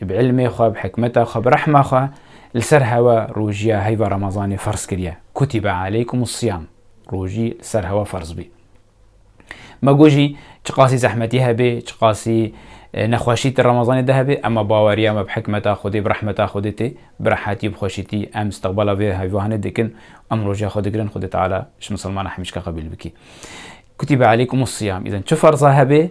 Bi îlmê xwe, bi hikmeta xwe, bi rehma xwe li ser hewa rojiya heyva Remezanê ferz kiriye. Kutibe aleykumussiyam, rojî li ser hewa ferz bî. Me got jî çiqasî zehmetî hebê, çiqasî nexweşî di Remezanê de hebê, ema baweriya me bi hikmeta Xwedê, bi rehmeta Xwedê tê. Bi rehetî û bi xweşîtî em istiqbala vê heyvahanê dikin û em roja xwe digirin, Xwedê Teala ji misilmana hemîşka qebîl bikî. Kutibe aleykumussiyam, îzin çi ferza hebê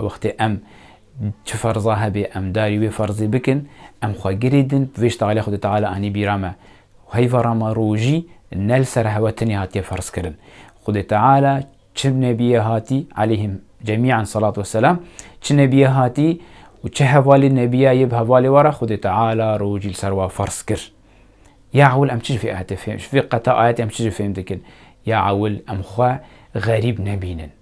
Wextê em çi ferza hebê em darî wê ferzê bikin, em xwe girê din bi vê ştalê Xwedê Teala anî bîra me. Heyva ra me rojî ne li ser hewa tenê hatiye ferzkirin. Xwedê Teala çi nebiyê hatî, aleyhim cemîan selat we selam, çi nebiyê hatî û çi hevalê nebiya yê bi hevalê we re Xwedê Teala rojî li ser we ferz kir. Ya ewil em çi ji vê ayetê fêm, ji vê qeta ayetê em çi ji fêm dikin? Ya ewil em xwe xerîb nebînin.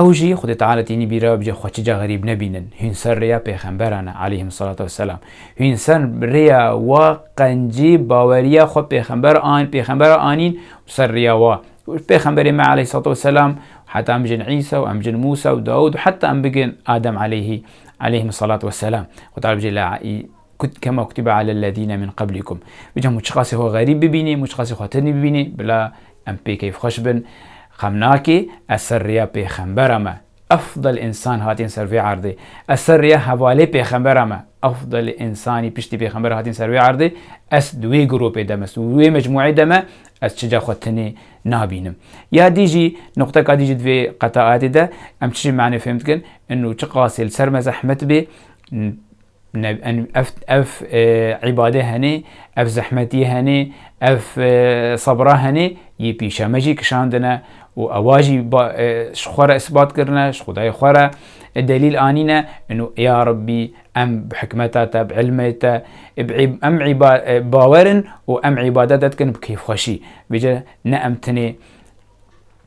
Ew jî Xwedê Teala tînî bîra bicî xwe çi ca xerîb nebînin. Hûn ser rêya pêxemberan e, aleyhim selatu ve selam. Hûn ser rêya wa qencî baweriya xwe pêxember an pêxembera anîn û ser rêya wa û pêxemberê me aleyhî selatu ve selam heta em bijîn Îsa û em bijîn Mûsa û Dawûd û heta em bigin Adem aleyhî aleyhîm selatu ve selam. Xwedê Teala bijî la î kut kema kutibe alel lezîne min qeblîkum. Bicî hemû çiqasî xwe xerîb bibînî, hemû çiqasî xwe tinî bibînî bila Em pê keyfxweş bin. Xem nake, ez ser rêya pêxembera me, efdel însan hatîn ser vê erdê. Ez ser rêya hevalê pêxembera me, efdel însanî piştî pêxember hatîn ser vê erdê. Ez di wê gropê de me, di wê mecmûeyê de me, ez çija xwe tinê nabînim. Ya dî jî, nuqteka dî jî di vê qetaetê de em çi jî manê fêhm dikin, inu çi qasê li ser me zehmet bê, Ev îbadê henê, ev zehmetî henê, ev sebra henê yê pîşa me jî kişandine û ewa jî ji xwe re îsbat kirine, ji xwedayê xwe re delîl anîne û ya Rebî em bi hikmeta te, bi îlmê te em bawer in û em îbadete dikin bi kêfxweşî. Vê cî ne em tenê